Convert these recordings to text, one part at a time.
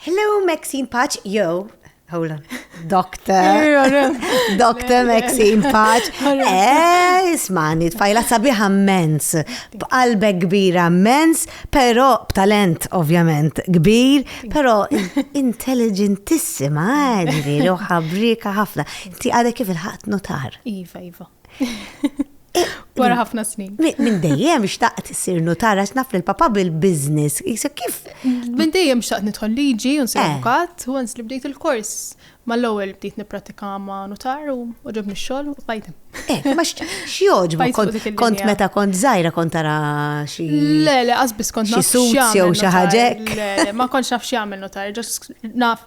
Hello, Maxine Patch, yo, Hold on. Doctor. Doctor Maxine Paċ. Eh, ismani, tfajla sabiħa mens. B'qalbe kbira mens, pero b'talent ovvjament kbir, pero intelligentissima, ġviri, u ħabrika ħafna. Ti għadek kif il-ħat notar. Iva, iva. Wara ħafna snin. Minn dejjem xtaqt issir notara x'naf li l-papa bil-biznis. Kif? Minn dejjem xtaqt nidħol liġi u nsir eh. avukat, u li bdejt il-kors. Mal-ewwel bdejt nippratika ma' notar u ġobni x-xogħol u bajt. Eh, ma x'joġbu kont meta kont żgħira kont tara xi. Le, le, qasbis kont naf. Xi jew xi ħaġek. Ma kontx naf x'jagħmel notar, ġas naf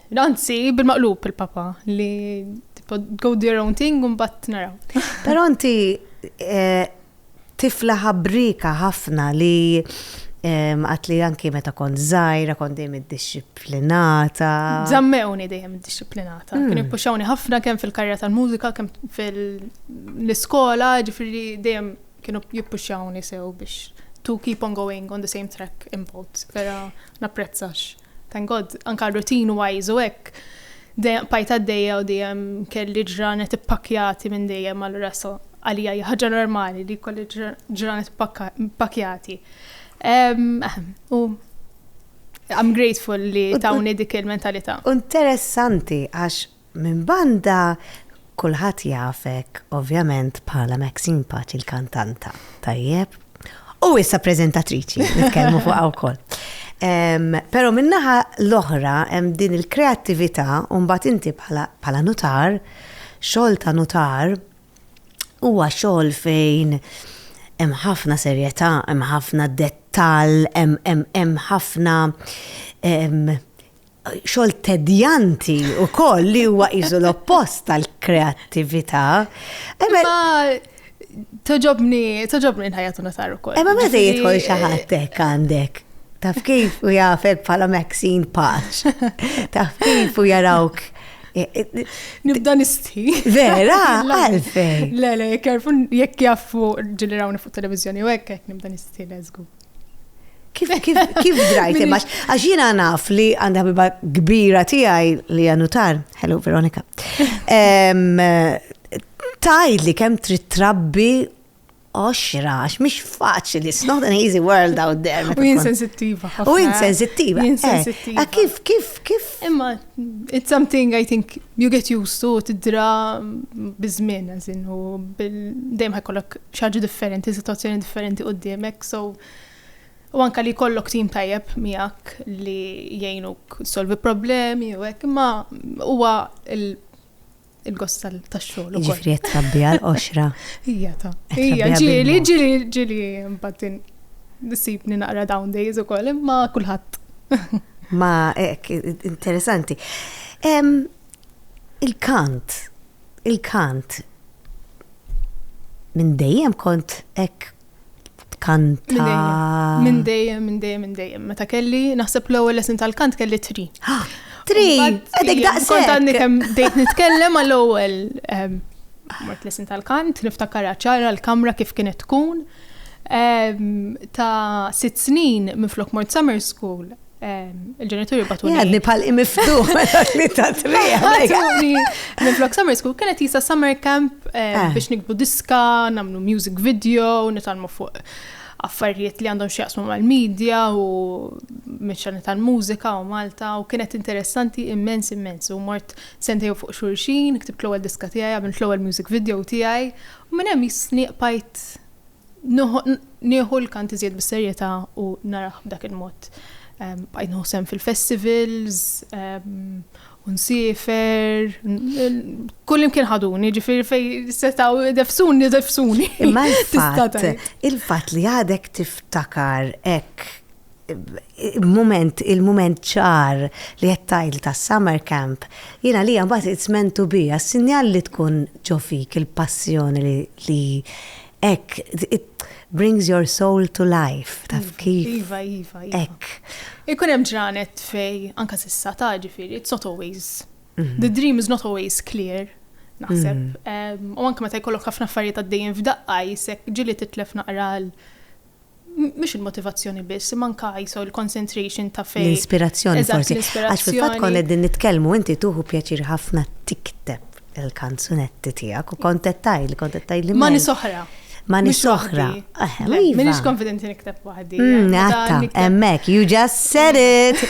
Anzi, bil-maqlub il-papa li go do your own thing un bat naraw. Pero inti eh, tifla ħabrika ħafna li ehm, għat li anki meta kont zaħira, kont dejjem id-disciplinata. Zammewni dejjem id-disciplinata. Mm. Kien puxawni ħafna kemm fil-karriera tal-mużika, kemm fil-iskola, ġifiri dejjem kienu jippuxawni sew biex to keep on going on the same track in both. Pero napprezzax. Thank God, anka routine wise u hekk, dejjem bqajt għaddejja u dejjem kelli ġranet ippakkjati minn dejjem allura so għalija hija ħaġa normali li jkolli ġranet ippakkjati. U I'm grateful li tawni dik il-mentalità. Interessanti għax Minn banda, kulħadd jafek ovvjament bħala Maxine Paċi l-kantanta, tajjeb? U issa preżentatriċi, nitkellmu fuqha wkoll. Però min-naħa l-oħra hemm din il-kreattività u mbagħad inti bħala nutar, xogħol ta' nutar huwa xogħol fejn hemm ħafna serjetà, hemm ħafna dettall, hemm ħafna xogħol tedjanti u koll li huwa iżu l-oppost tal-kreattività. Imma toġobni, toġobni nħajatu nasar u koll. Imma ma se jidħol xaħatek għandek. Taf kif u jafek bħala Maxine Paċ. Taf kif u jarawk. E, e, e, Nibda nisti. Vera, għalfej. Le, le, jek jaffu ġili rawni fuq televizjoni u ekk, nibda nisti, lezgu. Kif, kif, kif drajt imma? Għax jiena naf li għandha biba kbira tiegħi li għanutar, hello Veronika. Tajd li kemm trid trabbi oxra, għax mhix faċli, it's not an easy world out there. U insensittiva. U insensittiva. Eh, eh, kif, kif, kif? Imma It's something I think you get used to, tidra bizmin, għazin, u dejjem ħajkollok xaġu differenti, situazzjoni differenti u d-diemek, so u anka li kollok tim tajjeb miegħek li jgħinuk solvi problemi u hekk, imma huwa il-gost tax-xogħol. Ġifri qed trabbi għal qoxra. Ija ta. Ija ġieli, ġieli, ġieli mbagħad nisibni naqra down days ukoll imma kulħadd. Ma hekk interessanti. Il-kant, il-kant minn dejjem kont hekk tkanta. Minn dejjem, minn dejjem, minn dejjem. Meta kelli, naħseb l-ewwel lesson tal-kant kelli tri. Tri, għadek daqsek. Kont għandni kemm dejt nitkellem għall-ewwel ehm, mort lesson tal-kant, niftakar ċara l-kamra kif kienet tkun. Ehm, ta' sitt snin minn flok mort summer school, il-ġenituri batuni. Għadni pal imiftuħ li ta' Batuni. Minn flok summer school kienet jisa summer camp eh, eh. biex nikbu diska, namlu music video, nitalmu fuq affarijiet li għandhom xieqsmu mal-medja u meċċani tal-mużika u Malta u kienet interessanti immens immens u mort sentej fuq xurxin, ktibt l-ewwel diska tiegħi, għamilt l-ewwel music video tiegħi u minn hemm jisniq pajt Nieħu l-kant iżjed bis-serjetà u narah b'dak il-mod. Bqajt nieħu sehem fil-festivals, u nsiefer, kullimkien ħaduni, ġifieri fejn setgħu idefsuni, idefsuni. Imma il-fatt li għadek tiftakar hekk il-moment, il-moment ċar li qed tgħid ta' summer camp, jien għalija mbagħad it's meant to be, għas-sinjal li tkun ġo fik il-passjoni li hekk it brings your soul to life, taf iva, kif? Iva, iva, iva. Hekk. Ikun hemm ġranet fej anka s'issa ta' ġifieri, it's not always. Mhm. The dream is not always clear. Naħseb, mhm. u anke meta jkollok ħafna affarijiet għaddejjin f'daqqa jisek ġili titlef naqra mhux il-motivazzjoni biss, imma anke ISO, il-concentration ta' fejn. L-inspirazzjoni forsi. Għax fil-fatt konna qegħdin nitkellmu inti tuħu pjaċir ħafna tikteb il-kanzunetti tiegħek u kont qed tgħidli, kont qed tgħidli. Ma nies oħra. Ma nies oħra. Minix konfidenti nikteb waħdi. Għatta, emmek, you just said it.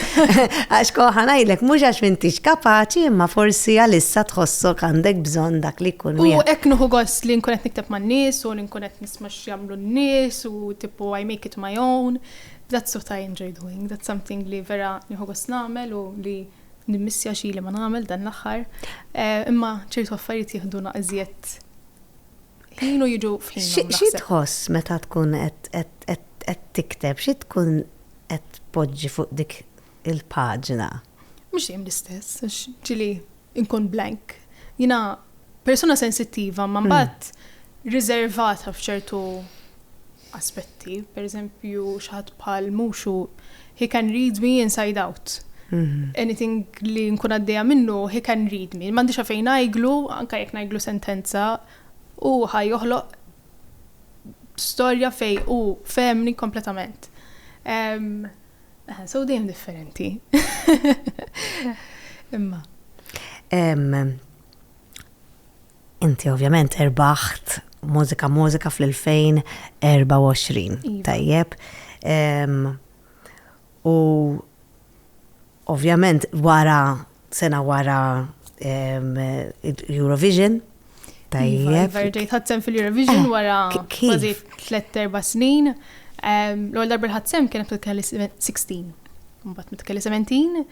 Għax koħan għajlek, mux għax mintix kapaċi, imma forsi għalissa tħossok għandek bżon dak li kun. U eknuħu għos li nkunet nikteb ma' nies u li nkunet nisma' x'jagħmlu n-nies u tippu I make it my own. That's what I enjoy doing, that's something li vera nieħu gost nagħmel u li nimmissja xi li ma nagħmel dan l-aħħar. Imma ċertu affarijiet jiħduna iżjed ħin u jiġu f'ħinhom naħseb. Xi tħoss meta tkun qed tikteb, xi tkun qed tpoġġi fuq dik il-paġna? Mhux dejjem l-istess, għax ġieli inkun blank. Jiena persuna sensittiva imma mbagħad riservata f'ċertu aspetti. Pereżempju xi ħadd bħal Mushu, he can read me inside out. Anything li nkun għaddejja minnu, he can read me. M'għandix għalfejn ngħidlu, anke jekk ngħidlu sentenza, hu ħa joħloq storja fejn hu fehemni kompletament. Aha, so dejjem differenti. Imma. Inti ovvjament erbaħt mużika mużika fl-2024. Iva. Tajjeb. U ovvjament wara Sena wara Eurovision. Tajjeb. Verġejt ħadsem fil-Eurovision eh, wara kważi 3-4 snin. L-għol darba l-ħadsem kienet kelli 16. Mbatt mitkelli 17.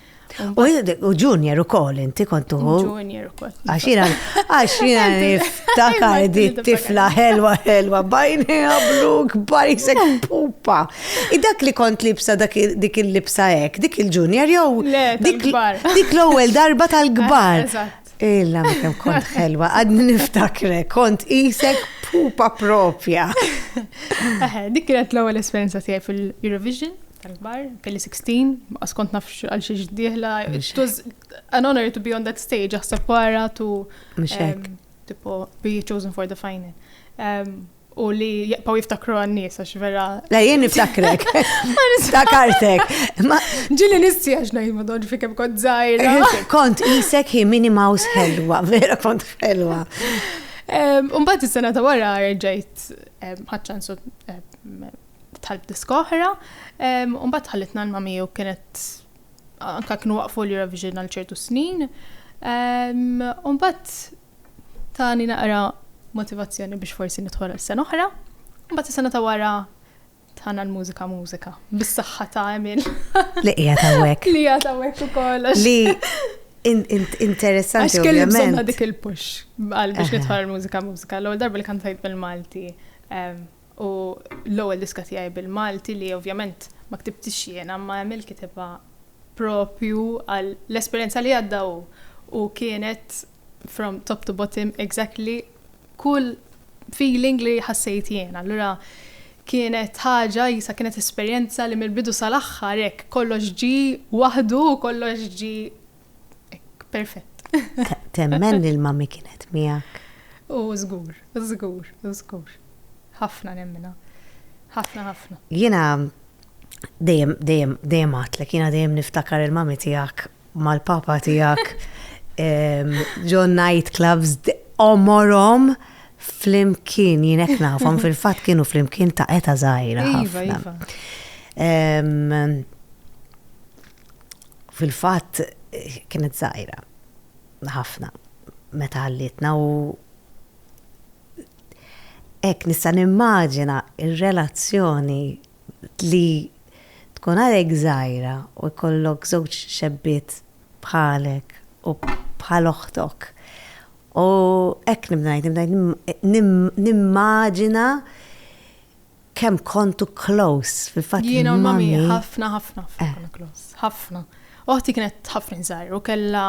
U junior u koll, inti kontu. Junior u koll. Għaxina, għaxina niftakar di tifla helwa helwa bajni għablu kbar jisek pupa. I dak li kont libsa dik il-libsa hekk, dik il-junior jew dik l-ewwel darba tal-kbar. Illa ma kemm kont ħelwa, għadni niftakre, kont isek pupa propja. Dik kienet l-ewwel esperjenza tiegħi fil-Eurovision tal-kbar, kelli 16, ma skont naf għal xi ġdieħla, it was an honor to be on that stage, aħseb wara tu. Mhux hekk. Tipo, be chosen for the final. u li jaqpaw jiftakru għannis, għax vera. La jien niftakrek. Niftakartek. Ġili nissi għax najt ma doġ fikem kont zaħira. Kont isek hi mini mouse helwa, vera kont helwa. Umbat is-sena ta' wara rġajt ħadċansu tal diskoħra, umbat ħallitna l-mami u kienet anka kienu waqfu l-Eurovision għal ċertu snin. Umbat Tani naqra motivazzjoni biex forsi nidħol għal sena oħra. Mbagħad is-sena ta' wara tħana l-mużika mużika. Bis-saħħa ta' Emil. Li hija ta' wek. Li hija ta' wek ukoll. Li interessanti. Għax kelli bżonna dik il-push għal biex nidħol mużika mużika. L-ewwel darba li kantajt bil-Malti. U l-ewwel diska tiegħi bil-Malti li ovvjament ma ktibtix jiena imma Emil kitibha proprju għal l-esperjenza li għadda hu u kienet from top to bottom exactly kull feeling li ħassejt jiena. Allura kienet ħaġa jisa kienet esperjenza li mill-bidu sal-aħħar hekk kollox ġie waħdu u kollox ġie Perfett. Temmen li l-mami kienet miegħek. U żgur, u żgur, u żgur. Ħafna nemmina. Ħafna, ħafna. Jiena dejjem, dejjem, dejjem għatlek, jiena dejjem niftakar il-mami tiegħek mal-papa tiegħek ġon nightclubs omorom flimkien jienek nafhom fil-fatt kienu flimkien ta' eta zaħira. Iva, iva. Fil-fatt kienet żgħira ħafna meta ħallietna u hekk nista' nimmaġina r-relazzjoni li tkun għadek żgħira u jkollok żewġ xebbiet bħalek u bħal oħtok. U hekk nibda ngħid, nibda ngħid nimmaġina. Kemm kontu close fil-fatt. Jiena u mami ħafna ħafna ħafna close. Ħafna. Oħti kienet ħafna żgħir u kellha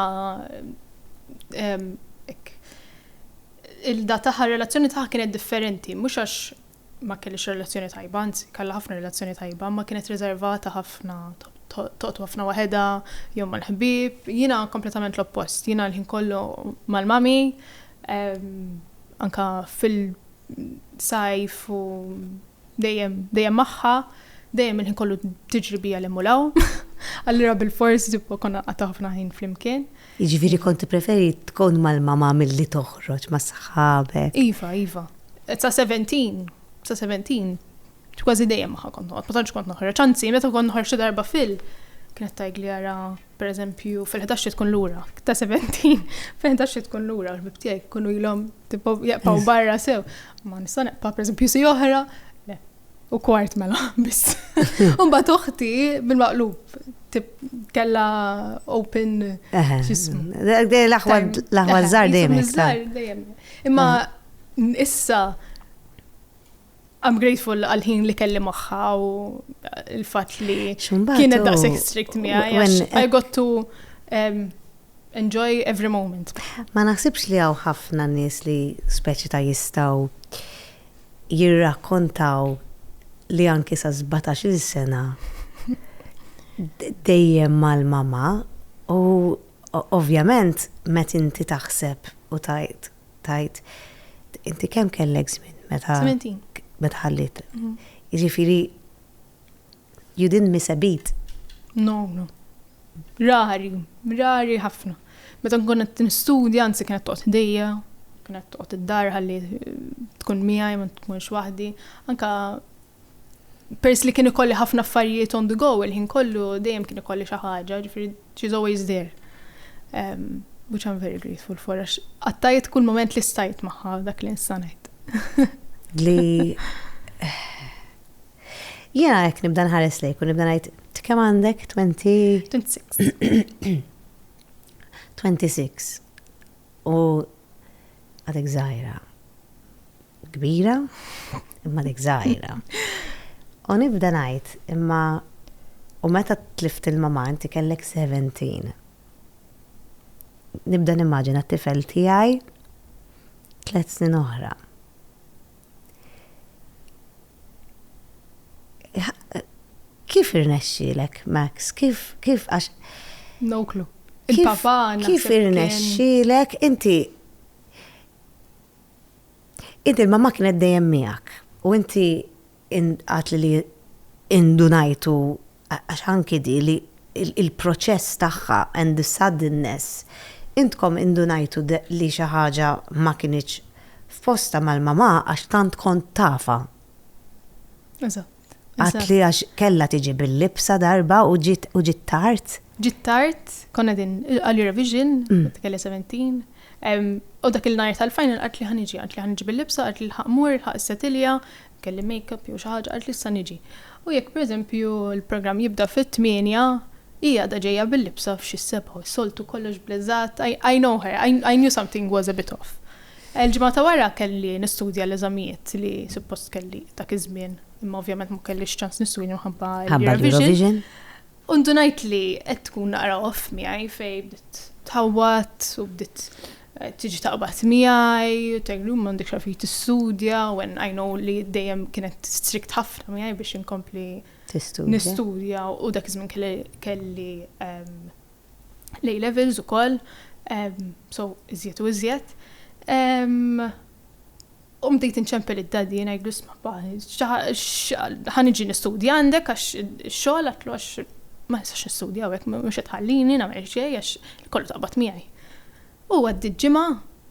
il-da taħħa relazzjoni taħħa kienet differenti, mhux għax ma kellix relazzjoni tajba, anzi kellha ħafna relazzjoni tajba, ma kienet riservata ħafna toqtu ħafna waħedha jew mal-ħbieb. Jiena kompletament l-oppost. Jiena l-ħin kollu mal-mami anka fil- sajf u dejjem dejjem magħha, dejjem il-ħin kollu tiġri bija l-hemm u l-hawn. Allura bil-fors ġibba konna nqata' ħafna ħin flimkien. Jiġifieri kont tippreferi tkun mal-mama milli toħroġ ma' saħabek? Iva, iva. Sa 17, sa 17, kważi dejjem magħha kont noqgħod, ma tantx kont noħroġ. Anzi, meta kont noħroġ xi darba fil, kienet tgħidli ara Pereżempju, fil-ħdax trid tkun lura. Ta' 17, fil-ħdax trid tkun lura l-ħbib tiegħek ikunu ilhom tipo jaqpaw barra sew. Ma nista' neqpa' pereżempju si oħra, le, u kwart mela biss. Imbagħad oħti bil-maqlub kella open ġismu. L-aħwa żgħar dejjem. Imma issa I'm grateful għal-ħin li kelli maħħa u l-fat li kienet daqsek strict miegħi. I got to um, enjoy every moment. Ma naħsibx li għaw ħafna nis li speċi ta' jistaw jirrakkontaw li anki sa' 17 sena dejjem mal-mama u ovvjament met inti taħseb u tajt tgħid inti kemm kellek żmien meta. Sementin. Meta ħallit. Mhm. Jiġifieri you didn't miss a beat. No, no. Rari, rari ħafna. Meta nkun qed nistudja, anzi kienet toqgħod ħdejja, kienet toqgħod id-dar ħalli eh, tkun miegħi ma tkunx waħdi. Anka Peress li kien ikolli ħafna affarijiet on the go il-ħin kollu, dejjem kien ikolli xi ħaġa, ġifieri she's always there. Um, which I'm very grateful for, għax qattajt kull moment li stajt magħha dak li nista' ngħid. Li Jena jek nibda nħares lejk u nibda ngħid kemm għandek 20 26. 26. U għadek żgħira. Kbira, imma dik żgħira. U nibda ngħid, imma u meta tlift il-mamma inti kellek 17. Nibda nimmaġina t-tifel tiegħi tliet snin oħra. Kif irnexxilek, Max? Kif, kif, għax. No clue. Il-papa Kif irnexxilek, inti Inti l-mamma kienet dejjem miegħek u inti għatli li indunajtu għax anki di li il-proċess tagħha and the suddenness intkom indunajtu li xi ħaġa ma kinitx f'postha mal-mamà għax tant kont tafha. Eżatt. Għat li għax kella tiġi bil-libsa darba u ġiet u ġiet tard. Ġiet tard, konna din għalli revision, kelli 17. U dak il-najr tal-final għat li ħaniġi, għat li ħaniġi bil-libsa, għat li l-ħaq mur, ħaq setilja, kelli make-up jew xi ħaġa, għat li issa niġi. U jekk pereżempju l-programm jibda fit-tmienja, hi għadha ġejja bil-libsa f'xi s-sebgħa, soltu kollox bleżat, I know her, I knew something was a bit off. Il-ġimgħa ta' wara kelli nistudja l-eżamijiet li suppost kelli dak iż-żmien, imma ovvjament ma kellix ċans nistudja minħabba l-Eurovision. U ndunajt li qed tkun naqra off miegħi fejn bdiet tħawwad u bdiet tiġi taqbad miegħi u tgħidli hu m'għandekx għalfejn tistudja when I know li dejjem kienet strict ħafna miegħi biex inkompli nistudja u dak iż-żmien kelli l-A Levels ukoll, so iżjed u iżjed. U bdejt inċempel id-daddy ngħidlu isma' pa, ħa niġi nistudja għandek għax ix-xogħol għatlu għax ma nistax nistudja hawnhekk mhux qed tħallini nagħmel xejn għax kollu taqbad miegħi. U għaddiet ġimgħa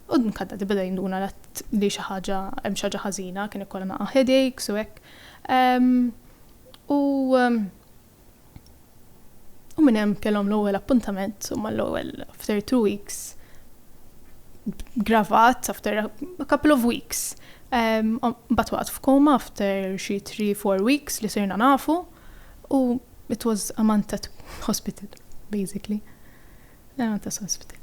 u anka d-daddy beda jinduna li xi ħaġa hemm xi ħaġa ħażina, kien ikollha naqa' headaches u hekk. U U minn hemm kellhom l-ewwel appuntament, u mal-ewwel after two weeks, gravat after a couple of weeks. Um, Bat waqt f'koma after xi three, four weeks li sirna nafu, u it was Amantat Hospital, basically. Amantat Hospital.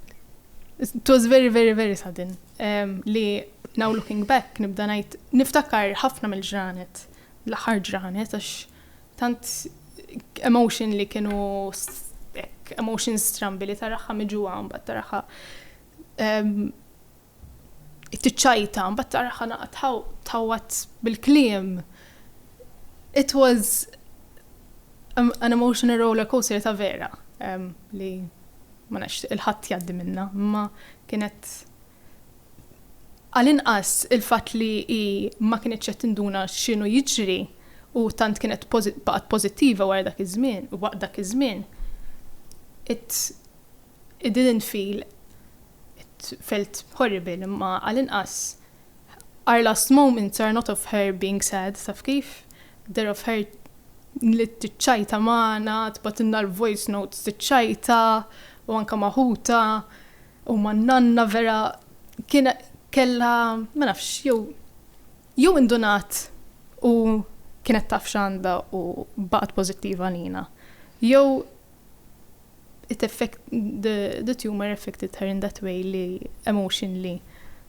It was very, very, very sudden. Um, li now looking back, nibda ngħid, niftakar ħafna mill-ġranet, l-aħħar ġranet, għax Tant emotion li kienu hekk emotions strambi li taraha miġuha mbagħad taraha tiċċajta mbagħad taraha naqgħa tħawwad bil-kliem. It was an emotional roller coaster ta' vera li ma nafx il-ħadd jgħaddi minnha, imma kienet Għall-inqas il-fatt li hi ma kinitx qed tinduna x'inhu jiġri u tant kienet baqgħet pożittiva wara dak iż-żmien, waqt dak iż-żmien, it, it didn't feel, it felt horrible, imma għall-inqas our last moments are not of her being sad, taf kif? They're of her li tiċċajta magħna, tibgħatilna l-voice notes tiċċajta u anke ma' ħutha, U ma n-nanna vera kien kellha ma nafx jew jew indunat u kienet taf x'għandha u baqgħet pożittiva għalina. Jew it effect the, the tumor affected her in that way li emotionally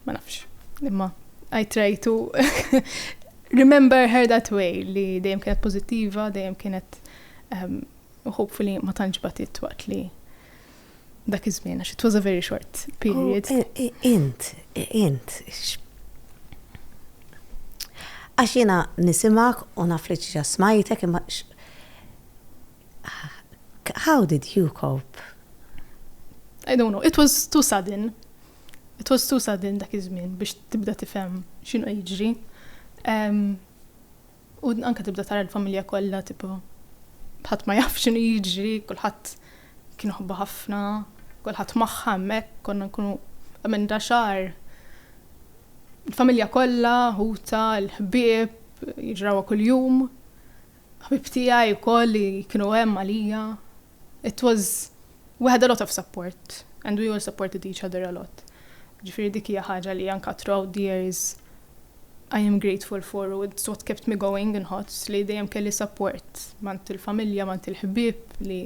ma nafx. Imma I try to remember her that way li dejjem kienet pożittiva, dejjem kienet um, hopefully ma tantx batit waqt li Dak iż-żmien għax it was a very short period. Oh, int, int. Għax jiena nisimak u naf li ġiġa smajtek imma how did you cope? I don't know, it was too sudden. It was too sudden dak iż-żmien biex tibda tifhem x'inhu jiġri. Um, U anke tibda tara l-familja kollha tipo ħadd ma jaf x'inhu jiġri, kulħadd kien iħobbha ħafna, kulħadd magħha hemmhekk, konna nkunu emenda xahar. Il-familja kollha, ħuta, l-ħbieb, jiġrawha kuljum. Ħbib tiegħi wkoll li kienu hemm għalija. It was, we had a lot of support and we all supported each other a lot. Ġifieri dik hija ħaġa li anka throughout the years I am grateful for u it's what kept me going inħoss li dejjem kelli support m'għand il-familja, m'għand il-ħbieb li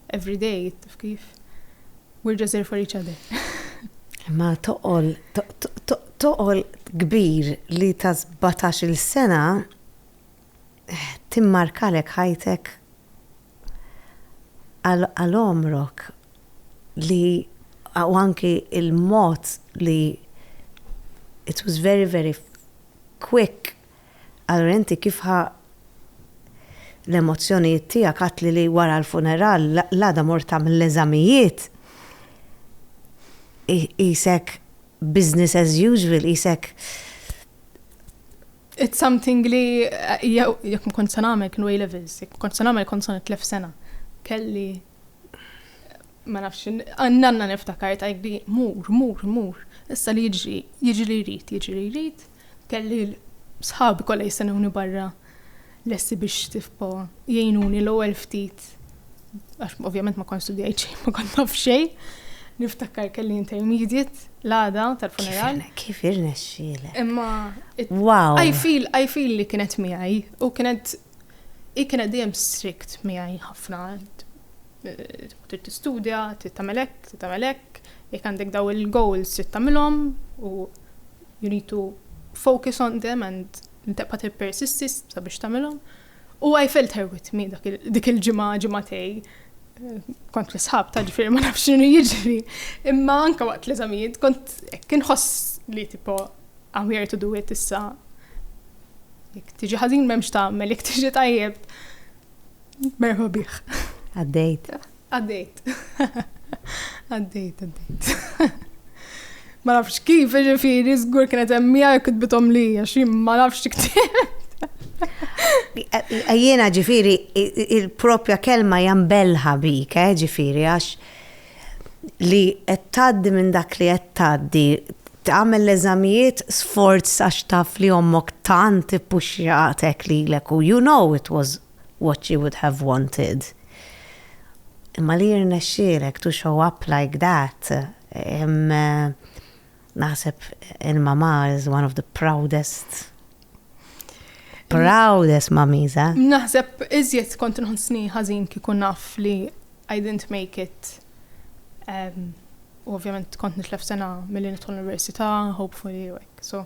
every day, taf kif, we're just there for each other. Ma toqol, toqol kbir li ta' 17 il-sena eh, timmarkalek ħajtek għal għomrok li u anki il-mod li it was very very quick allura inti kif ħa l-emozzjonijiet tiegħek għedtli li wara l-funeral l-għada mort tagħmel l-eżamijiet qisek business as usual qisek It's something li jekk ma kont se nagħmel kienu A levels, jekk ma kont se nagħmel kont se nitlef sena. Kelli ma nafx, nanna niftakar tajli, mur, mur, mur, issa li jiġri, jiġri li jrid, jiġri li jrid, kelli sħabi kollha jistennewni barra lesti biex tifpo jgħinuni l-ewwel ftit għax ovvjament ma kont studjajt xejn, ma kont naf xejn. Niftakar kelli intermediate l-għada tal-funeral. Kif irnexxielek? Imma wow. I feel I feel li kienet miegħi u kienet i kienet dejjem strict miegħi ħafna. Trid tistudja, trid tagħmel hekk, trid tagħmel hekk, jekk għandek daw il-goals trid tagħmilhom u you need to focus on them and Ntebħa tippersisti sabiex tagħmilhom. U I felt her with me dik il-ġimgħa ġimgħatej. Kont l-isħab ta' ġifieri ma nafx x'inhu jiġri. Imma anke waqt l-eżamijiet kont kien ħoss li tipo I'm here to do it issa. Jek tiġi ħażin m'hemmx tagħmel, jek tiġi tajjeb merħba bih. Għaddejt. Għaddejt. Għaddejt, għaddejt. Ma nafx kif, ġifiri, zgur kienet emmija jek kitbitom li, għax ma nafx tiktibt. Jiena ġifiri, il-propja kelma jambelħa bik, eh, ġifiri, għax li għettaddi minn dak li għettaddi, tagħmel l-eżamijiet sforz għax taf li ommok tant ippuxxjatek li l-eku, you know it was what you would have wanted. Imma li jirnexxielek to show up like that, naħseb il-mamà is one of the proudest, proudest mummies, eh? Naħseb iżjed kont nħossni ħażin kieku naf li I didn't make it. U ovvjament kont nitlef sena mill-li nidħol l-università, hopefully, like, so.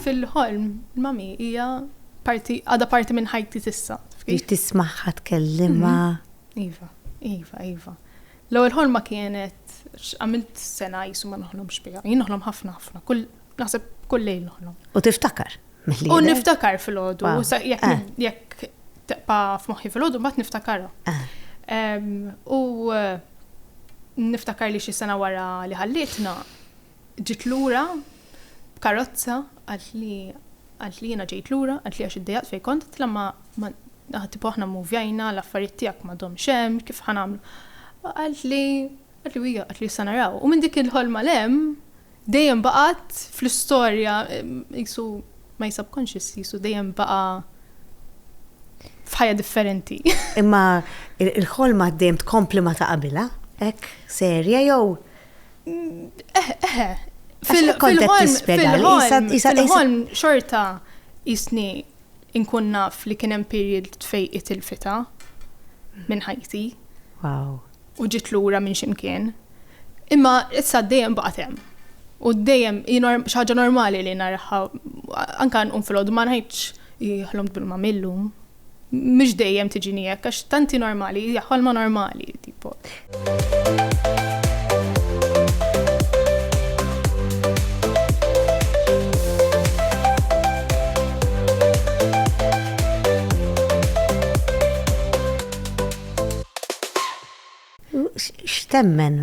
Fil-ħolm, il-mommy hija parti, għadha parti minn ħajti s'issa. Biex tismagħha tkellimha. Mhm. Iva, iva, iva. L-ewwel ħolma kienet għamilt sena jisu ma noħlomx biha. Jien noħlom ħafna ħafna, kull naħseb kull lejl noħlom. U tiftakar? U niftakar fil-ħodu, eh. jekk teqpa f'moħħi fil-ħodu, mbagħad niftakarha. Eh. U eh, niftakar li xi sena wara li ħallitna, Ġiet lura b'karozza, qalt li qalt li jiena ġejt lura, qalt li għax iddejjaqt fejn kont, qiltilha ma ma aħ tipo aħna mmuvjajna, l-affarijiet tiegħek m'għadhomx hemm, kif ħa nagħmlu? Qalt li qalt li hija qalt li issa naraw. U minn dik il-ħolma 'l hemm dejjem baqgħet fl-istorja qisu my subconscious qisu dejjem baqa' f'ħajja differenti. Imma l-ħolma dejjem tkompli ma ta' qabilha? Hekk serja jew Eh, eh, eh. Fil-ħolm, fil-ħolm xorta jisni inkun naf li kien hemm period fej itilfita minn ħajti. Wow. U ġit lura minn ximkien. Imma issa dejjem baqgħet hemm. U dejjem xaġa normali li narħa anka nqum fil-għodu ma nħajtx jħlom bil-mamillum. Mhux dejjem tiġini hekk għax tanti normali, hija ħolma normali tipo. X'temmen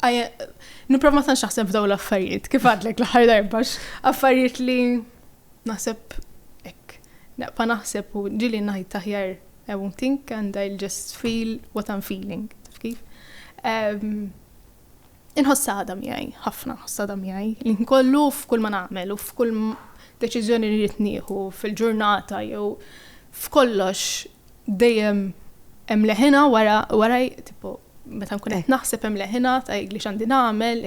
Niprof ma tantx naħseb f'daw l-affarijiet, kif għadlek l-aħħar darba affarijiet li naħseb hekk. Naqpa naħseb u ġili ngħid taħjar I won't think and I'll just feel what I'm feeling. Kif? Ehm, inħoss għada miegħi, ħafna ħoss għada miegħi, li nkollu f'kull ma nagħmel u f'kull deċiżjoni li rrid nieħu fil-ġurnata jew f'kollox Dejjem hemm leħina wara wara tipo meta nkun qed naħseb hemm leħina ta' li x'għandi nagħmel,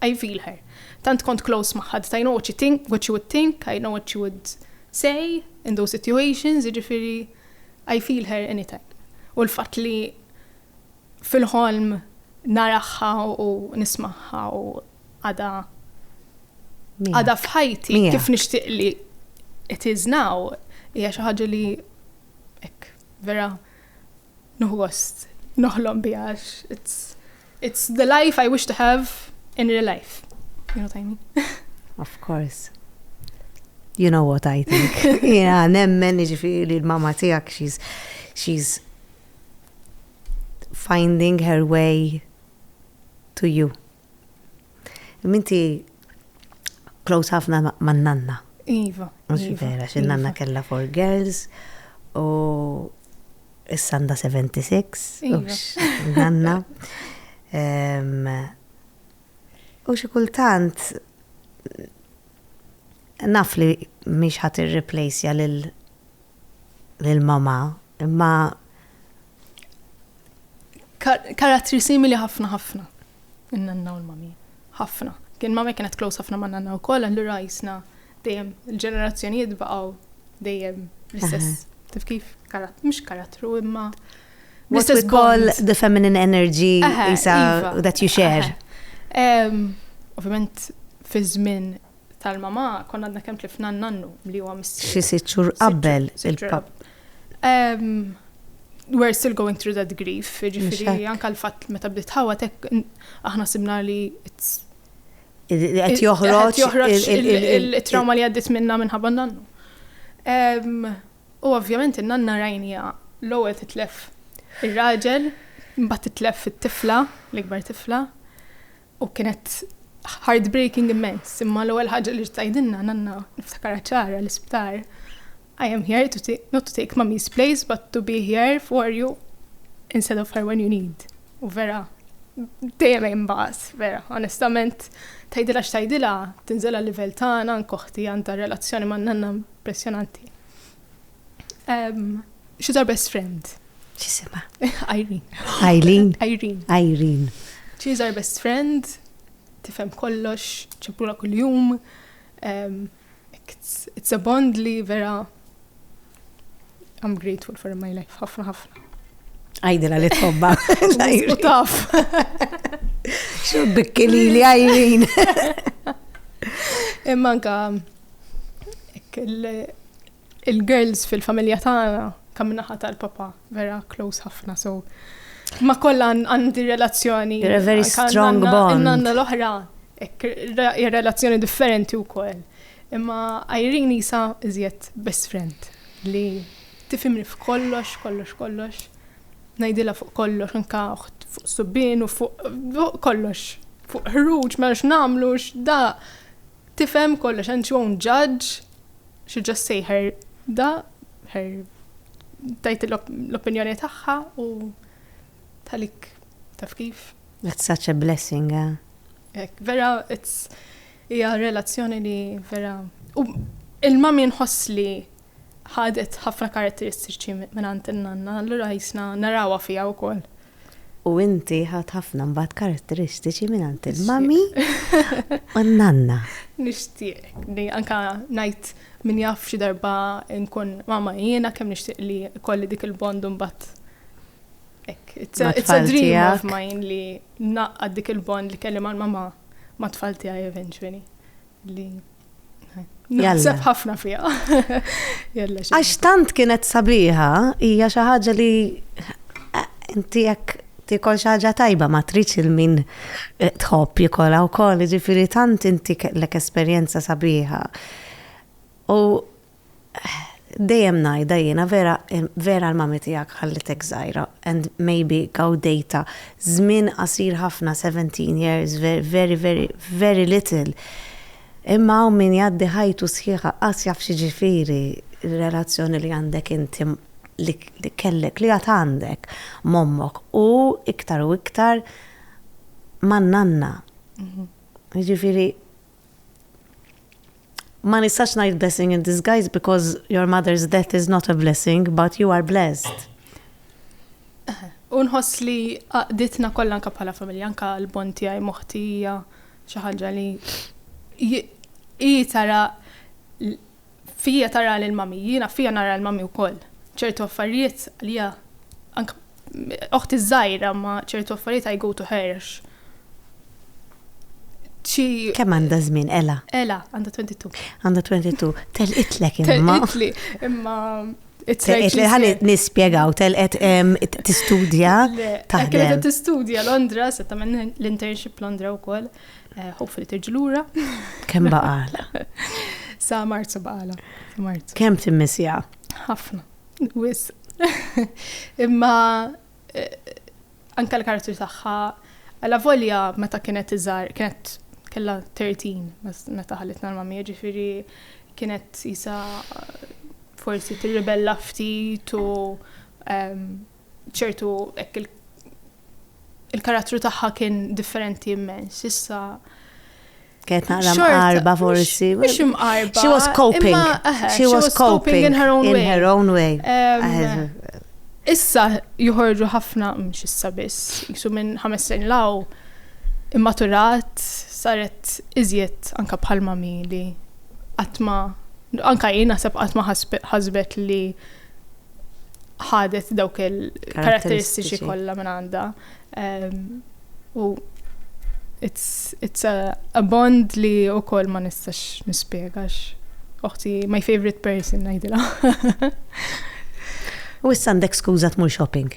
I feel her. Tant kont close ma' ħadd, I know what you think, what you would think, I know what you would say in those situations, jiġifieri I feel her anytime. U l-fatt li Fil-ħolm naraha u nismagħha u għadha għadha f'ħajti kif nixtieq li it is now hija xi ħaġa li hekk vera nieħu gost noħlom biha għax it's it's the life I wish to have in real life. You know what I mean? Of course. You know what I think. Jena nemmen ġifiri li l-mama tijak she's, she's Finding Her Way to You. Minti close ħafna man nanna. Iva. Mux iva, vera, xin nanna iva. kella for girls u s-sanda 76. Iva. Nanna. U xi kultant naf li mhix ħadd irreplacja lil lil mamà, imma karattri simili ħafna ħafna. In-nanna u l-mami. Ħafna. Kien mami kienet close ħafna ma' nanna wkoll, allura jisna dejjem il-ġenerazzjonijiet baqgħu dejjem l-istess. Tif kif? Mhux karattru imma What we call the feminine energy isa, iva. that you share. Ovvjament fi żmien Talma ma konna għadna kemm tlifna n-nannu li huwa missier. Xi sitt xhur qabel il-pap. We're still going through that grief, ġifiri anka l-fatt meta bdiet ħawa tek aħna sibna li qed joħroġ il-trauma li għaddit minna minħabba nannu. U ovvjament in-nanna rajnija l-ewwel titlef ir-raġel, mbagħad titlef it-tifla, l-ikbar tifla. U kienet heartbreaking immens, imma l-ewwel ħaġa li tgħidilna nanna niftakarha ċara l-isptar. I am here to take, not to take mummy's place, but to be here for you instead of her when you need. U vera, dejjem hemm baqas, vera, onestament, tgħidilha x'tgħidilha, tinżel għal-livell tagħna, nkoħti għandha relazzjoni ma' nanna impressjonanti. She's our best friend. Xisima? Irene. Irene. Irene. Irene. She's our best friend. Tifhem kollox, ċempura kull-jum. Um, it's a bond li vera I'm grateful for my life, ħafna ħafna. Għajdila li tħobba. U taf. Xo bikkili li għajrin. Imma anka il-girls fil-familja tagħna kam naħa tal-papa vera close ħafna so ma kollha għandi relazzjoni. You're a very strong bond. Nanna l-oħra relazzjoni differenti wkoll. Imma Irene isa iżjed best friend li tifimni f'kollox, kollox, kollox. Najdila fuq kollox, anka fuq subbin u fuq kollox. Fuq ħruġ, ma x'namlu, x'da. Tifhem kollox and she won't judge, she'll just say her da, her tajt l-opinjoni tagħha u talik taf kif. That's such a blessing, eh? Ek, vera, it's, hija relazzjoni li vera. U il-mami nħoss li Ħadet ħafna karatteristiċi mingħand in-nanna, allura qisna narawha fiha wkoll. U inti ħadt ħafna mbagħad karatteristiċi mingħand il-mummy u n-nanna. Nixtieq li anke ngħid min jaf xi darba nkun mama jiena kemm nixtieq li kolli dik il-bond u mbagħad Ek, it's a, it's a dream of mine li naqqad dik il-bond li kelli mal-mama ma tfal tiegħi eventually. li Naħseb ħafna fija. Għax tant kienet sabiħa, hija xi ħaġa li eh, inti jekk tikol xi ħaġa tajba ma tridx il-min eh, tħobb jikolha wkoll, jiġifieri tant inti kellek esperjenza sabiħa. U Dejjem ngħidha jiena vera vera l-mommy tiegħek ħallitek żgħira and maybe gawdejtha żmien qasir ħafna 17 years very very very little imma hawn min jgħaddi ħajtu sħiħa qatt jaf x'jiġifieri r-relazzjoni li għandek inti li kellek li għad għandek m'ommok u iktar u iktar man-nanna jiġifieri Ma nistax ngħid blessing in disguise because your mother's death is not a blessing, but you are blessed. Unħoss li għaqditna kollha anka bħala familja, anka l-bon tiegħi moħti hija xi ħaġa li hi tara Fija tara lil mommy, jiena fija nara lil mommy wkoll. Ċertu affarijiet għalija anke oħti ż-żgħira imma ċertu affarijiet I go to her għax xi Kemm għandha żmien Ela? Ela għandha 22. Għandha 22. Telqitlek imma. Telqitli imma Ħalli nispjegaw, telqet tistudja. Telqet tistudja Londra, setta minn l-internship Londra wkoll. Eh, hopefully terġi lura. Kemm baqala? Sa Marzu baqala. Marzu. Kemm timmissija? Ħafna. Wis. Imma eh, anka l-karattru tagħha għala volja meta kienet iżar, kienet kella 13 meta ħalitna l-mamija ġifiri kienet jisa forsi tirribella ftit u ehm, ċertu hekk il il-karattru tagħha kien differenti immens. Issa Kienet naqra mqarba forsi. Mhux imqarba. She was coping. She was coping in her own way. In her own way. Issa joħorġu ħafna mhux issa biss, jisu minn ħames snin law immaturat saret iżjed anka bħal mami li qatt ma anka jien naħseb qatt ma ħasbet li ħadet dawk il-karatteristiċi kollha minn għandha. Ehm, u it's, it's a, a bond li u koll ma nistax nispiegax. Oħti, my favorite person, najdila. u issa għandek skuza tmur shopping.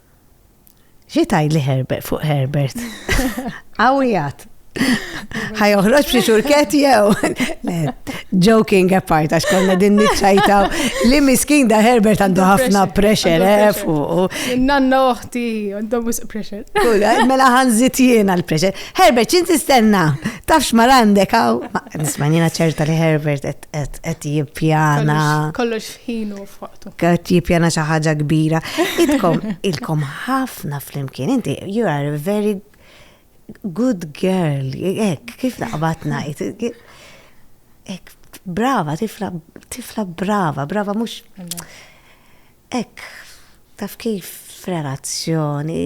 Xi tajli Herbert fuq Herbert? Għawijat. Ħaj uħroċ li xurket jew. Joking apart, għax konna din nitċajtaw li miskin da Herbert għandu ħafna pressure, eh, fuq. Nanna uħti, għandhom wisq pressure. Kula, eh, mela ħanżit jiena l-pressure. Herbert, ċin tistenna? Tafx mar għandek għaw? Nismanina ċerta li Herbert qed jippjana. Kollox f'ħinu f'waqtu. Qed jippjana xi ħaġa kbira. Idkom ilkom ħafna flimkien. Inti you are a very good girl. Ek, kif naqbatna. Ek, brava, tifla, tifla brava, brava mhux. Hekk, taf kif, f'relazzjoni,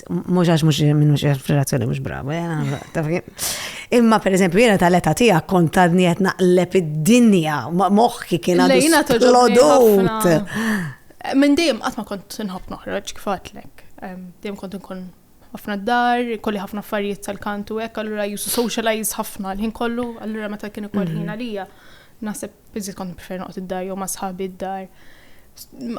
mhux għax mhux minn mhux f'relazzjoni mhux bravu, eh, taf kif. Imma per eżempju, jiena tal-età tiegħek kont tadni qed naqleb id-dinja, moħħi kien għadu lodut. Minn dejjem qatt ma kont inħobb noħroġ kif għatlek. Dejjem kont inkun ħafna d-dar, kolli ħafna affarijiet tal-kantu hekk, allura jusu socialize ħafna l-ħin kollu, allura meta kien ikoll ħin mhm. għalija. Naħseb Iżjed kont nippreferi noqgħod id-dar jew ma' sħabi d-dar.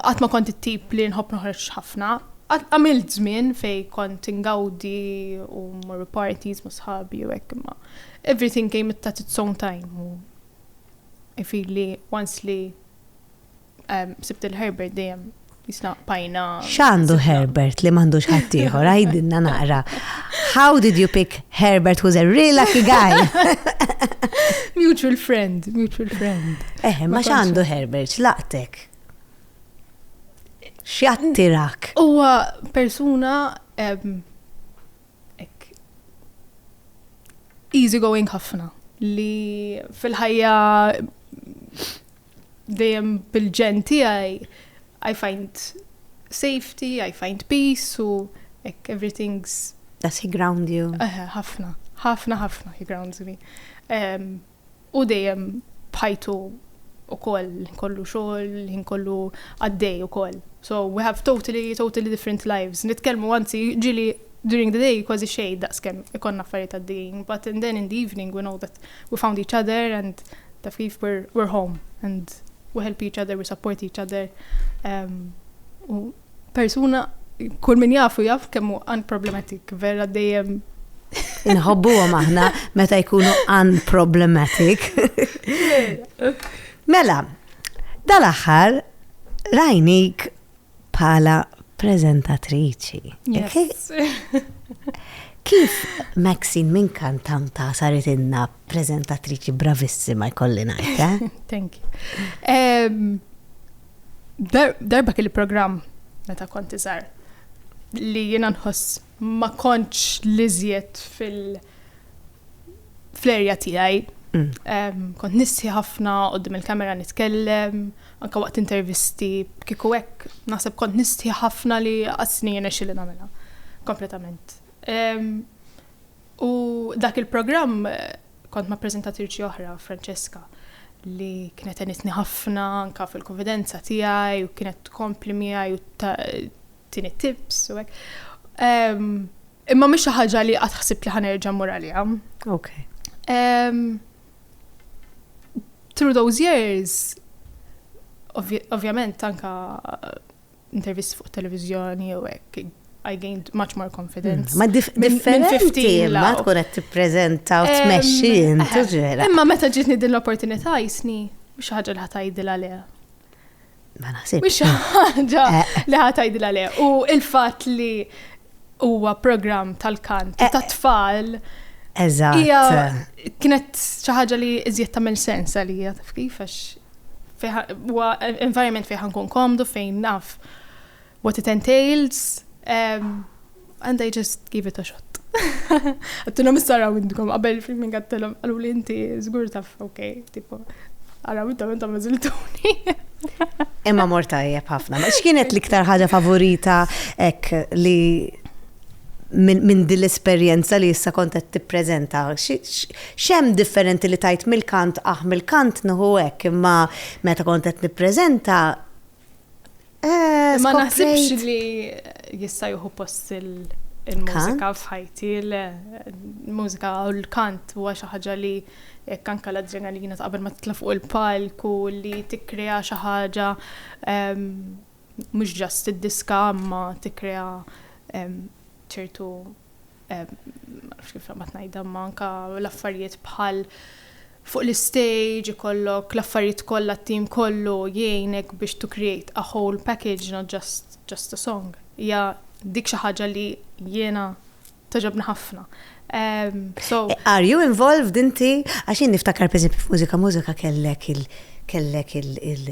Qatt ma kont it-tip li nħobb noħroġ ħafna. Għamilt żmien fejn kont ingawdi u mmorru parties ma' sħabi u hekk imma everything came it at its own time u I feel li once li sibt il-Herbert dejjem Jisna pajna. X'għandu Herbert li m'għandux ħaddieħor, għajdinna naqra. How did you pick Herbert who's a real lucky guy? mutual friend, mutual friend. Eh, ma x'għandu Herbert, laqtek. X'jattirak? Huwa persuna easy going ħafna li fil-ħajja dejjem bil-ġen tiegħi I find safety, I find peace u ek everything's Does he ground you? Ħafna, ħafna, ħafna he grounds me. U dejjem bħajtu u koll, kollu xogħol, ħin kollu għaddej u koll. So we have totally, totally different lives. Nitkellmu għanzi ġili during the day kważi xej daqskem ikon affarijiet għaddejjin, but and then in the evening we know that We found each other and taf kif we're, we're home and we help each other, we support each other. Um, u persuna, kull min jafu jaf kemmu unproblematic, vera dejjem Inħobbu għom aħna meta jkunu unproblematic. mela, dal-axħar rajnik bħala prezentatriċi. Yes. Kif Maxine minn kantanta saret inna prezentatriċi bravissima jkolli ngħid, eh? Thank you. Um, darba kelli programm meta konti żgħar li jiena nħoss ma kontx l-iżjed fil fl-erja tiegħi. Kont nissi ħafna qudiem il-kamera nitkellem, anke waqt intervisti, kieku hekk naħseb kont nisti ħafna li qasni jirnexxili nagħmilha kompletament. U dak il-programm kont ma' preżentatriċi oħra, Francesca, li kienet għenitni ħafna anke fil-kunfidenza tiegħi u kienet tkompli miegħi u tini tips u hekk. Ehm, imma mhix xi ħaġa li qatt ħsibt li ħanerġa' mmur għaliha. Ok. Ehm, through those years, ovvjament anka eh, intervisti fuq televizjoni u hekk, I gained much more confidence. Mm, ma differenti ma tkun qed tippreżenta u tmexxi intu ġera. Imma meta ġitni din l-opportunità jisni mhux ħaġa li ħatajdil għaliha. Ma naħsibx. Mhux xi ħaġa eh. li ħadd tgħidilha le. U l-fatt li huwa programm tal-kant eh. tat-tfal. Eżatt. Hija kienet xi ħaġa li iżjed tagħmel sens għalija taf kif għax huwa environment fejn ħankun komdu fejn naf what it entails, um, and I just give it a shot. Għattilom s-saraw indkom, għabel filmin għattilom, għallu li inti zgur taf, ok, tipo, għaraw intom intom mażiltuni. Imma mor tajjeb ħafna. Ma x'kienet l-iktar ħaġa favorita ek li minn din l-esperjenza li issa kont qed tippreżenta. X'hemm differenti li tajt mill-kant aħ ah, mill-kant nħu hekk imma meta kont qed nippreżenta Eh, Ma naħsibx li jista' juhu post il-mużika f'ħajti, il-mużika u l-kant huwa xi ħaġa li jekk anka l-adrenalina ta' qabel ma titla' fuq il-palk u li tikkrea xi ħaġa ehm, mhux ġast id-diska ma tikkrea ehm, ċertu nafx kif ma tnajdha imma anka l-affarijiet bħal fuq l-istage ikollok l-affarijiet kollha t-tim kollu jgħinek biex to create a whole package not just just a song. Hija dik xi ħaġa li jiena toġobni ħafna. Um, so Are you involved inti? Għax jien niftakar pereżempju f'mużika mużika kellek il kellek il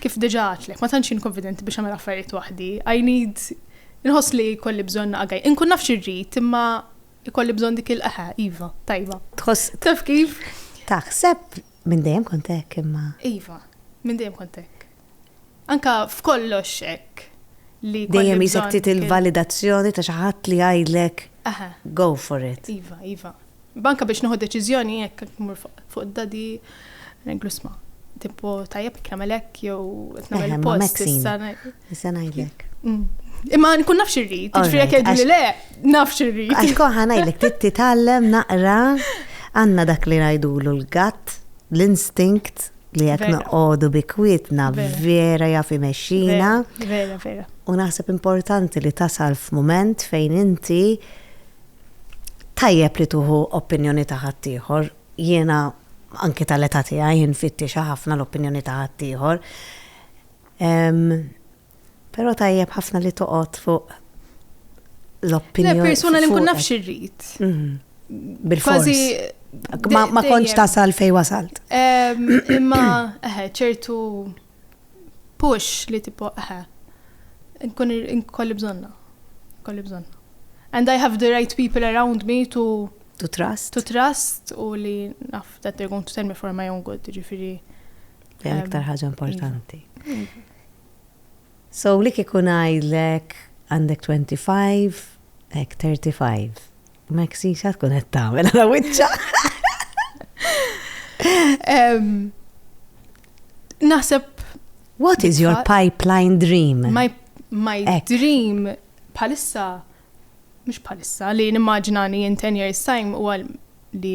Kif diġà għedtlek, ma tantx jien konfidenti biex nagħmel affarijiet waħdi. I need Inħoss li jkolli bżonn naqa' gaj. Inkun naf x'irrid, imma jkolli bżonn dik il eħe, iva, tajba. Tħoss. Taf kif? Taħseb minn dejjem kont hekk imma. Iva, minn dejjem kont hekk. Anke f'kollox hekk li. Dejjem isek trid il-validazzjoni ta' xi ħadd li jgħidlek go for it. Iva, iva. Banka biex nieħu deċiżjoni jekk qed mmur fuq dadi ngħidlu sma' tipo tajjeb jekk nagħmel hekk jew qed nagħmel eh, post issa issa ngħidlek. Mm. Imma nkun nafx irrid, ġifieri jekk jgħidu li le, nafx irrid. Għax koħa ngħidlek trid titgħallem naqra għandna dak li ngħidulu l-gatt, l-instinkt li jekk noqogħdu bi kwietna vera jaf imexxina. Vera, vera. U naħseb importanti li tasal f'mument fejn inti tajjeb li tuħu opinjoni ta' ħaddieħor. Jiena anki tal-età tiegħi infittixha ħafna l-opinjoni ta' ħaddieħor. Però tajjeb ħafna li toqgħod fuq l-opinjoni. Persuna li nkun naf xirrit. Mhm. Bil-fors. Ma kontx tasal fej wasalt. Imma ċertu push li tipo eħe. Nkun nkolli bżonna. Nkolli bżonna. And I have the right people around me to to trust. To trust u li naf that they're going to tell me for my own good, ġifiri. Dejjem um, iktar ħaġa importanti. Iva. So li kikun għajdlek għandek 25, ek 35. Maxi, xa tkun qed tagħmel għal wiċċa. Naħseb What is your pipeline dream? My, my dream palissa, mux palissa, li nimmaġinani in 10 years time u għal li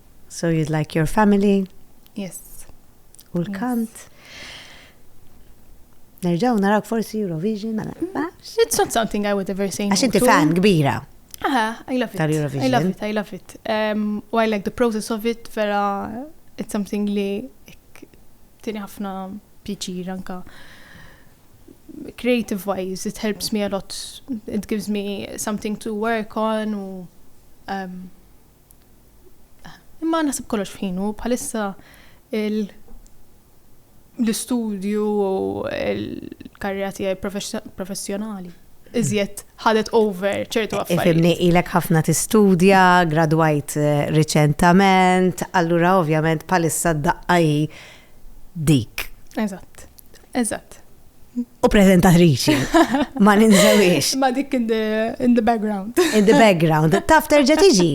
So you'd like your family? Yes. U l-kant? Nerġaw narak forsi Eurovision, ma nafx. It's not something I would ever say no Għax inti to. fan kbira. Aha, I love it. I Tal-Eurovision. love it, I love it. Um, u I like the process of it, vera, it's something li ek- tini ħafna pjaċir anka. Creative wise, it helps me a lot. It gives me something to work on u um, Imma naħseb kollox f'ħinu, bħalissa l-istudju u l-karriera tiegħi professjonali iżjed ħadet over ċertu affarijiet. Fimni ilek ħafna tistudja, gradwajt eh, riċentament, allura ovvjament palissa d-daqqa hi dik. Eżatt, eżatt. U prezentatriċi, ma ninżewiex. Ma dik in the, in the background. in the background. Taf terġa tiġi.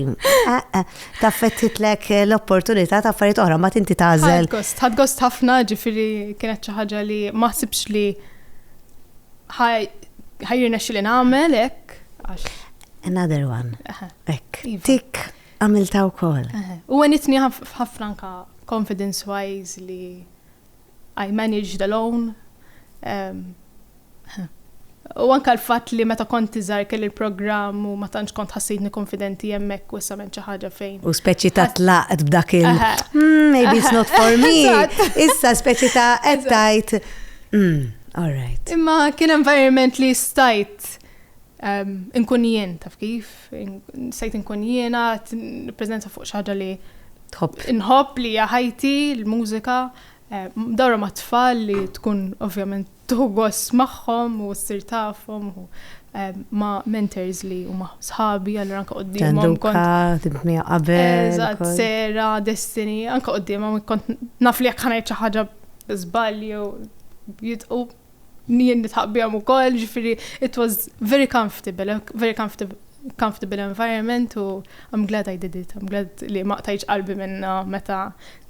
Eh, eh, taf fettitlek l-opportunità ta' affarijiet oħra, ma tinti tażel. Ħad gost ħafna ġifiri kienet xi ħaġa li ma ħsibx li ħajrna xi li nagħmel hekk. Another one. Ek. Iva. Tik. Għamiltha wkoll. U għenitni ħafna anke confidence wise li I managed alone. U anke l-fatt li meta kont iżgħar kelli l-programm u ma tantx kont ħassitni konfidenti hemmhekk u issa m'hemm xi ħaġa fejn. U speċi ta' tlaqt b'dak il hmm, maybe it's not for me. Issa speċi ta' qed tgħid hmm, all right. Imma kien environment li stajt Inkun jien, taf kif? Sejt inkun jiena, nippreżenza fuq xi ħaġa li Tħobb. Inħobb li hija ħajti, l-mużika, dawra ma' tfal li tkun ovvjament tuħu gost magħhom u ssir tafhom u ma' mentors li huma sħabi allura anke quddiemhom. Tanduka, timt miegħu qabel. Eżatt, Sera, Destiny, anke quddiemhom kont naf li jekk ħa ngħid xi ħaġa żball jew jidħqu Jien nitħaq bihom ukoll, ġifieri it was very comfortable, very comfortable comfortable environment u I'm glad I did it, I'm glad li ma qtajċ qalbi minna meta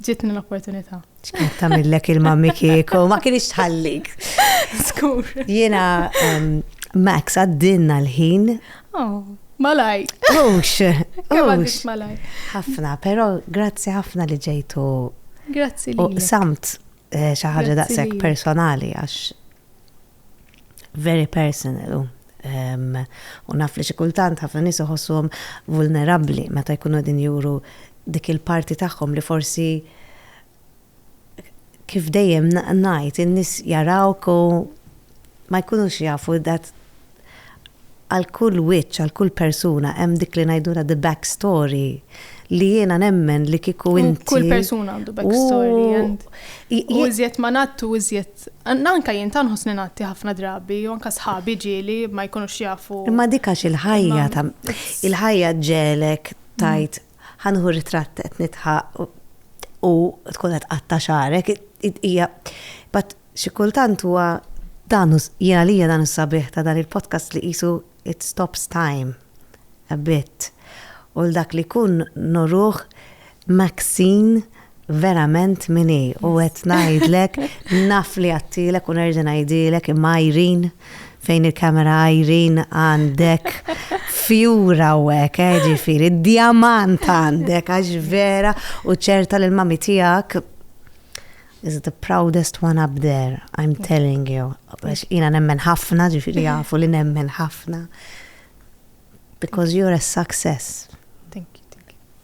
ġitni l-opportunità. X'kienet tagħmillek il-mammi kieku, ma kienx tħallik. Skur. Jiena Max għaddinna l-ħin. Oh. Malaj. Ux. Ux. Malaj. Ħafna, pero grazzi ħafna li ġejtu. Grazzi li. Samt. Eh, xi ħaġa daqshekk personali għax very personal. Um, u naf li xi kultant ħafna nies iħossuhom vulnerabbli meta jkunu din juru dik il-parti tagħhom li forsi kif dejjem ngħid in-nies jarawk u ma jkunux jafu that għal kull wiċċ, għal kull persuna hemm dik li ngħidulha the back story li jiena nemmen li kieku inti. Kull persuna għandu back story and u iżjed ma nattu iżjed anka jien ta' nħossni natti ħafna drabi u anka sħabi ġieli ma jkunux jafu. Imma dikax il-ħajja ta' il-ħajja ġelek tajt mm. Ħa nieħu ritratt qed nidħaq u tkun qed tqatta' xagħrek. Hija but xi kultant huwa dan jien għalija dan is-sabiħ ta' dan il-podcast li qisu it stops time a bit u l-dak li jkun noruh Maxine verament mini u għet najdlek naf li għattilek u nerġa najdilek imma Irene fejn il-kamera Irene għandek fjura u għek eh, ġifiri diamant għandek għax vera u ċerta li l-mami tijak is the proudest one up there, I'm telling you. Għax jina nemmen ħafna, ġifiri għafu li nemmen ħafna. Because you're a success.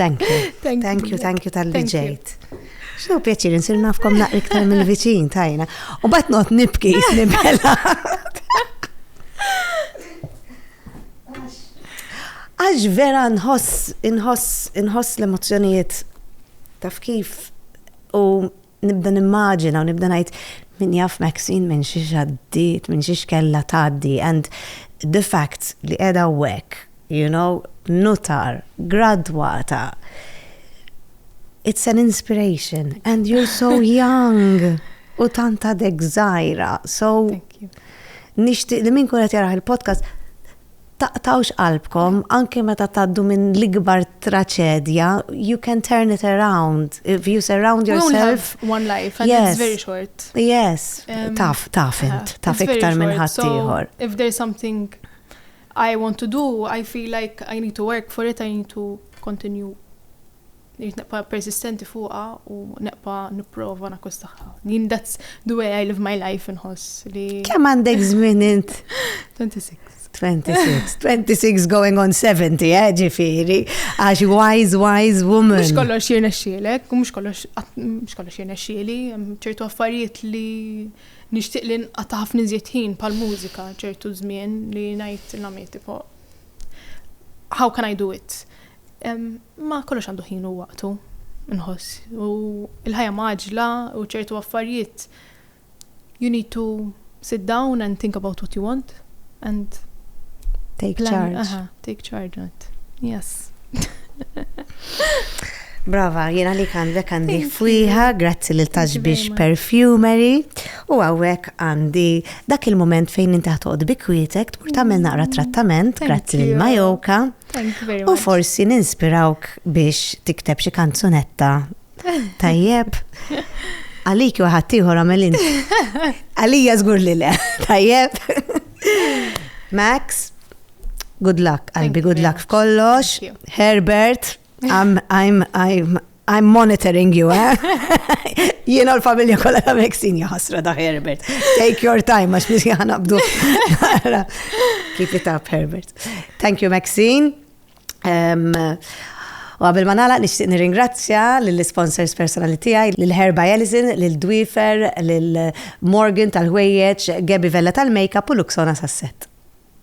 Thank you. Thank, thank you, thank you tal-li ġejt. Xinu pjaċir, nsir nafkom naqri iktar mill-viċin tajna. U bat not nibki, nibela. Għax vera nħoss, nħoss, nħoss l-emozjonijiet taf kif u nibda nimmaġina u nibda ngħid min jaf Maxine minn xi xaddiet, minn xi xkella tgħaddi and the fact li qiegħda hawnhekk, you know, nutar, gradwata. It's an inspiration and you're so young u tant għadek żgħira. So nixtieq li min kunet jaraħ il-podcast Taqtgħux qalbkom anke meta tgħaddu minn l-ikbar traċedja, you can turn it around if you surround yourself. We only have one life and yes. it's very short. Yes, um, taf, taf int, taf iktar minn ħadd ieħor. So, if there's something I want to do, I feel like I need to work for it, I need to continue Irrid nibqa' persistenti fuqha u nibqa' nipprova nakkustahha. Din that's the way I live my life inħoss li. Kemm għandek żmien int? 26. 26, 26 going on 70, eh, ġifiri, għax wise, wise woman. Mux kollox jirna xielek, mux kollox, mux kollox jirna xieli, ċertu affarijiet li nishtiq li nqata ħafna ħin pal-mużika, ċertu żmien li najt l-għamiet, how can I do it? Imma kollox għandu ħin u waqtu, nħoss. U il-ħajja maġla u ċertu affarijiet you need to sit down and think about what you want and take plan, charge. Aha, take charge on it. Yes. Brava, jena li għandek għandi fwiħa, grazzi li taġ biex perfumery, u għawek għandi dak il-moment fejn inti ħatoqt bikwietek, tmur tamil naqra trattament, grazzi li majoka. U forsi ninspirawk biex tikteb xi kanzunetta tajjeb. Għalik u ħaddieħor għamelin. Għalija żgur li le. Tajjeb. Max, good luck, qalbi, good luck f'kollox. Herbert, I'm, I'm, I'm, I'm monitoring you, eh? Jiena l-familja kollha ta' Meksin jaħasra da' Herbert. Take your time, għax biex jħana bdu. Keep it up, Herbert. Thank you, Maxine. Um, U għabel ma nagħlaq nixtieq nirringrazzja lill-sponsors personali tiegħi, lil Herba Jelizin, lil Dwifer, lil Morgan tal-ħwejjeġ, Gabi Vella tal-Makeup u Luxona Sasset.